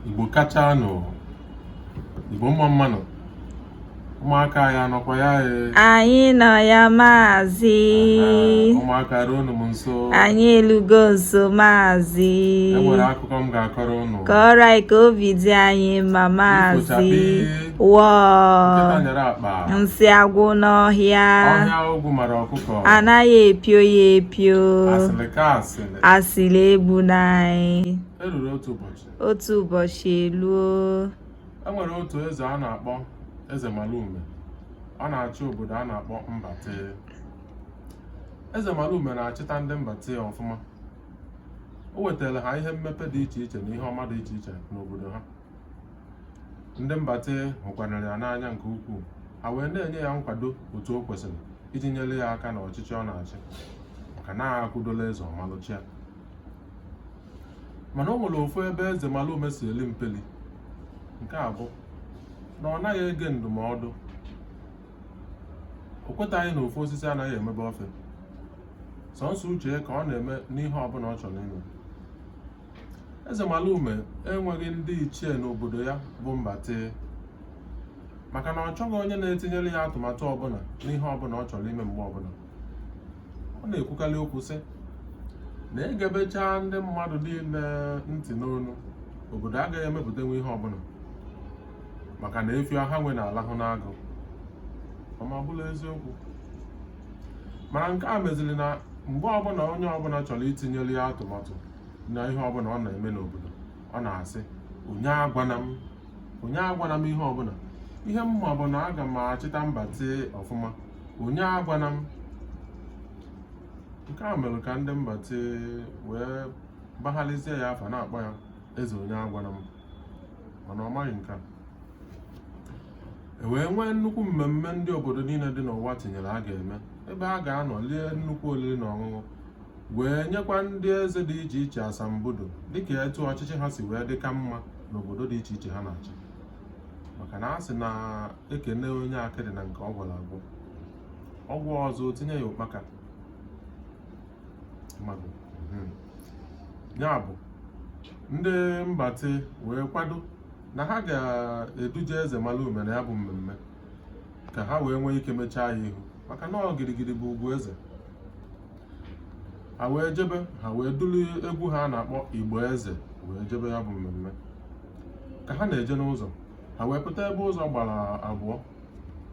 Igbo kacha nụ Igbo mma mma nụ ụmụaka anyị anọkwa ya e. anyị nọ ya maazị ụmụaka ruonụ m nso anyị elugo nso maazị e nwere akụkọ m ga-akọrọ unu kọrọ anyị ka obi dị anyị mma maazị wọọ nsị agwụ n'ọhịa anaghị epio ya epio asịrị egbuna anyị otu ụbọchị eluo e nwere otu eze a na-akpọ eze malume ọ na-achị obodo a na-akpọ mbate eze malume na-achịta ndị mbate ọfụma o wetara ha ihe mmepe dị iche iche na ihe ọma dị iche iche n'obodo ha ndị mbate hụkwanara ya n'anya nke ukwuu ha wee na-enye ya nkwado otu o kwesịrị iji nyere ya aka n'ọchịchị ọ na-achị maka na akwụdola eze ọ malụ chịa mana o nwere ofu ebe eze malume si eli mpeli nke a bụ na ọ naghị ege ndụmọdụ o kwetaghị na ofu osisi anaghị emebe ọfịa sọnsọ uche ya ka ọ na-eme n'ihe ọbụla ọ chọrọ ime eze malume enweghị ndị ichie n'obodo ya bụ mbate maka na ọ chọghị onye na-etinyere ya atụmatụ ọbụla n'ihe ọbụla ọ chọrọ ime mgbe ọbụla ọ na-ekwukarị okwu sị na e gebecha ndị mmadụ niile ntị n'ọnụ obodo agaghị emepụtanwu ihe ọbụla maka na efi ọha nwe na-alahụ n'agụ ọ ma bụla eziokwu mana nke a meziri na mgbe ọbụla onye ọbụla chọrọ itinyere ya atụmatụ na ihe ọbụla ọ na-eme n'obodo ọ na-asị onye agwana m onye agwana m ihe ọbụla ihe m ma bụ na aga m achịta mbate ọfụma onye agwana m nke a mere ka ndị mbate wee baghalizie ya afa na-akpọ ya eze onye agwana m mana ọ maghị nke a e wee nwee nnukwu mmemme ndị obodo niile dị n'ụwa tinyere a ga-eme ebe a ga-anọ lie nnukwu oriri na ọṅụṅụ wee nyekwa ndị eze dị iche iche asambodo dịka etu ọchịchị ha si wee dị ka mma n'obodo dị iche iche ha na-achị maka na a sị na e kene onye akịdị na nke ọ gwọlụ agwọ ọ gwọọ ọzọ tinye ya ụkpaka mmadụ hmm. ya bụ ndị mbate wee kwado na ha ga-eduje eze malume na ya bụ mmemme ka ha wee nwee ike mechaa ya ihu maka na ọ girigiri bụ ugwu eze ha wee jebe ha wee duru egwu ha na-akpọ igba eze wee jebe ya bụ mmemme ka ha na-eje n'ụzọ ha wee pụta ebe ụzọ gbara abụọ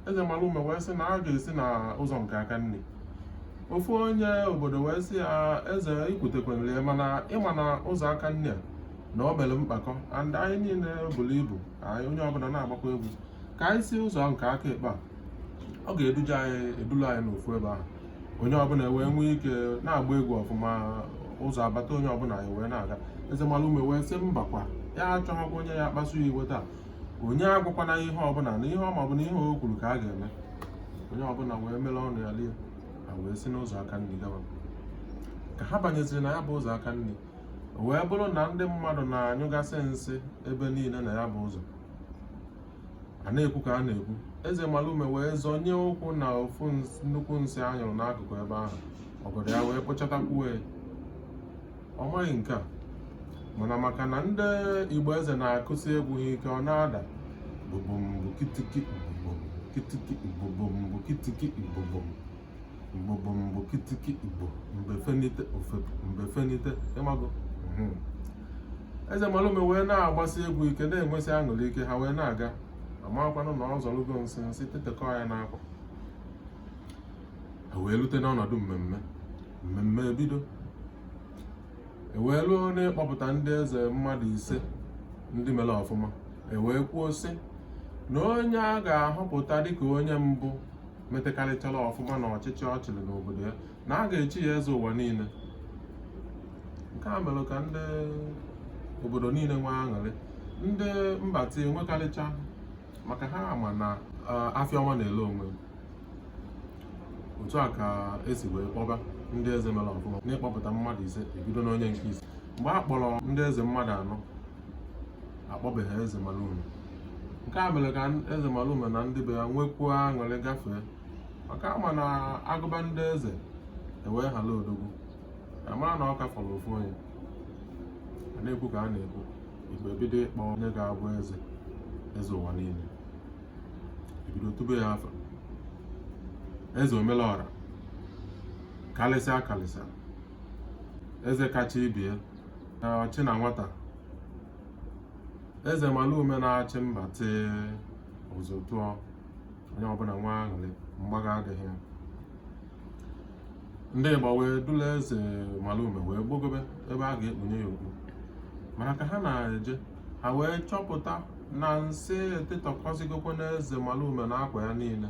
eze malume wee sị na a ga-esi na ụzọ nke aka nri ofu onye obodo wee sị ya eze i kwutekwanere ya mana ị ma na ụzọ aka nri a na o mere mkpakọ and anyị niile buru ibu anyị onye ọbụla na-agbakwa egwu ka anyị si ụzọ nke aka ekpe a ọ ga-eduje anyị edulu anyị n'ofu ebe ahụ onye ọbụla wee nwee ike na-agba egwu ọfụma ụzọ abata onye ọbụla anyị wee na-aga eze malume wee sị mbakwa ya achọghịkwa onye ya-akpasu ya iwe taa onye agwakwana ihe ọbụla na ihe ọ ma bụ na ihe o kwuru ka a ga-eme onye ọbụla wee mere ọnụ ya lie ha wee si n'ụzọ aka nri gawa ka ha banyeziri na ya bụ ụzọ aka nri wee bụrụ na ndị mmadụ na-anyụgasị nsị ebe niile na ya bụ ụzọ a na-ekwu ka a na-ekwu eze malume wee zọnye ụkwụ na ofu nnukwu nsị a nyụrụ n'akụkụ ebe ahụ ọgọdọ ya wee kpochatakwuo ya ọ maghị nke a mana maka na ndị igba eze na-akụsi egwu ha ike ọ na-ada bụbụmbụ kitiki bụbụmbụ kitiki bụbụmbụ kitiki bụbụmbụ bụbụmbụ kitiki igbo mgbe fenite o fepụ mgbe fenite ị mago mhm. eze malume wee na-agbasi egwu ike na-enwesị aṅụrị ike ha wee na-aga amakwanụ na ọ zọrụgo nsị nsị tetekọ ya n'akwa e wee rute n'ọnọdụ mmemme mmemme ebido e wee ruo n'ịkpọpụta ndị eze mmadụ ise ndị mere ọfụma e wee kwuo sị na onye a ga-ahọpụta dịka onye mbụ metekarịchara ọfụma na ọchịchị ọ chịrị n'obodo ya na a ga-echi ya eze ụwa niile nke a mere ka ndị obodo niile nwee aṅụrị ndị mbati enwekarịcha maka ha ma na afịa ọma na-ele onwe otu a ka e si wee kpọba ndị eze mere ọfụma n'ịkpọpụta mmadụ ise e bido n'onye nke ise mgbe a kpọrọ ndị eze mmadụ anọ akpọbeghị eze malume nke a mere ka eze malume na ndị be ya nwekwuo aṅụrị gafee maka a ma na a gụba ndị eze e wee hala odogwu a mara na ọ ka fọrọ ofu onye a na-ekwu ka a na-ekwu igba ebido ịkpọ onye ga-abụ eze eze ụwa niile ebido tube ya afa eze omelọra karịsịa karịsịa eze kacha ibie ọchị na nwata eze malume na-achị mbati ụzụ tụọ onye ọbụla nwee aṅụrị mgbagha adịghị ya ndị igba wee dula eze malume wee gbogobe ebe a ga-ekpunye ya okpu mana ka ha na-eje ha wee chọpụta na nsị etetọkọzigokwanụ eze malume na akwa ya niile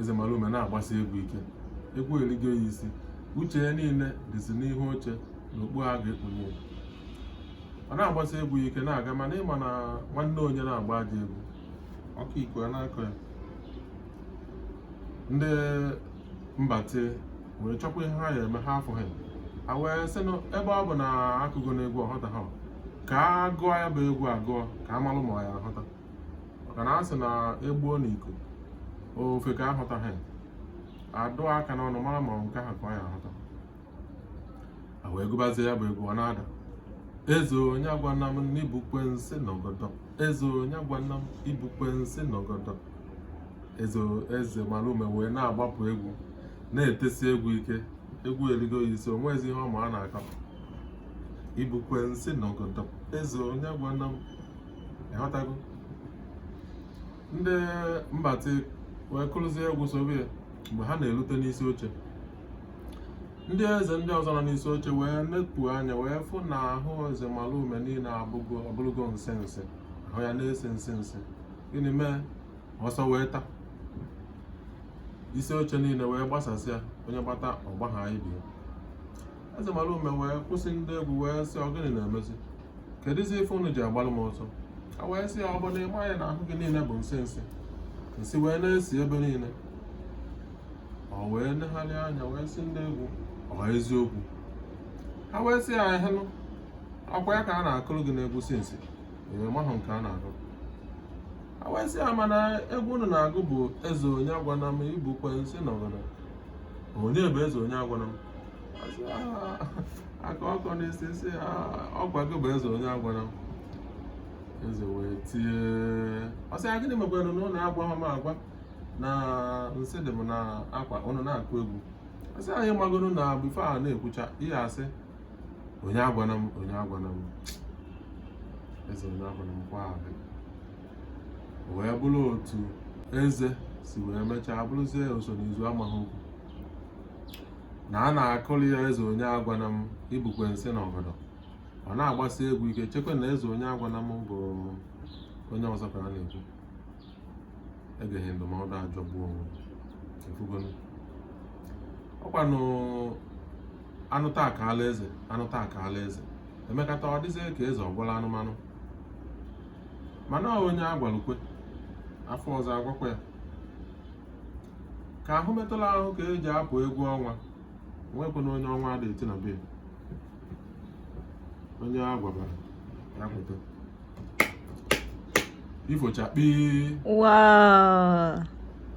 eze malume na-agbasi egwu ike egwu eligo ya isi uche ya niile dịzi n'ihu oche na okpu a ga-ekpunye ya ọ na-agbasi egwu ike na-aga mana ịma na nwanne onye na-agba ajọ egwu ọkọ iku a na-akọ ya ndị mbati wee chọkwa ihe ha ya eme ha afụha ha wee sị na ebe ọ bụ na a kụgo n'egwu ọ ghọtaha ka a gụọ ya bụ egwu agụọ ka a malụ ma ọ ya aghọta maka na a sị na e gbuo n'iko ofeke aghọtaha a dụa aka n'ọnụ mara ma nke ahụ ka ọ ya aghọta a wee gụbazie ya bụ egwu ọ na-ada eze onye agwana m ibukwe nsị n'ọgọdọ eze onye agwana m ibukwe nsị n'ọgọdọ eze malume wee na-agbapụ egwu na-etesi egwu ike egwu eligo ya isi o nwezi ihe ọ ma a na-akọ ibukwe nsị n'ọgọdọ eze onye agwana m ịghọtago ndị mbati wee kụrụzie egwu sobe ya mgbe ha na-erute n'isi oche ndị eze ndị ọzọ nọ n'isi oche wee nepu anya wee fụ na ahụ eze malume niile abụrụgo nsị nsị ahụ ya na-esi nsị nsị gịnị mee ọsọ wee taa isi oche niile wee gbasasịa onye gbata ọ gbaha ibe ya eze malume wee kwụsị ndị egwu wee sị ọ gịnị na-emezi kedụzi ife unu ji agbalụ m ọsọ a wee sị ya ọ bụ na ịmaghị na ahụ gị niile bụ nsị nsị nsị wee na-esi ebe niile ọ wee negharị anya wee sị ndị egwu ọ eziokwu ha wee sị ya ehenụ ọkwa ya ka a na-akụrụ gị n'egwu since ị mahụ nke a na-akụ ha wee sị ya mana egwu unu na-agụ bụ eze onye agwana m ibukwe nsị n'ọgọdọ onye bụ eze onye agwana m a kọọ ọkọ n'isi sị ọkwa gị bụ eze onye agwana m eze wee tie ọ sị ya gịnị mekwara na ụnụ agwaha m agwa na nsị dị m n'akwa ụnụ na-akụ egwu a sị anyị magoro na before a na-ekwucha ihe ị sị onye agwana m onye agwana m eze onye agwana m nke ahụ wee bụrụ otu eze si wee mechaa bụrụzie oso n'izu amaghị okwu na a na-akụli ya eze onye agwana m ibukwe nsị n'ọgọdọ ọ na-agbasi egwu ike chekwa na eze onye agwana m bụ onye ọzọ ka a na-ekwu egeghị ndụmọdụ ajọgbuo onwe ị fụgonu ọkwanụ anụta akaala eze anụta akaala eze emekata ọ dịzie ka eze ọgwụla anụmanụ mana onye agwalụ kwe afọ ọzọ agwakwa ya ka ahụ metụla ahụ ka eji apụ egwu ọnwa nwekwana onye ọnwa ada eti na be onye a gwabara ya pụta ifo chakpii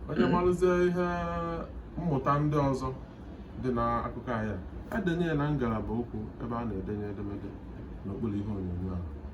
onye marụzie ihe mmụta ndị ọzọ dị n'akụkọ anyị a edenye ya na ngalaba okwu ebe a na-edenye edemede n'okpuru ihe onyonyo ahụ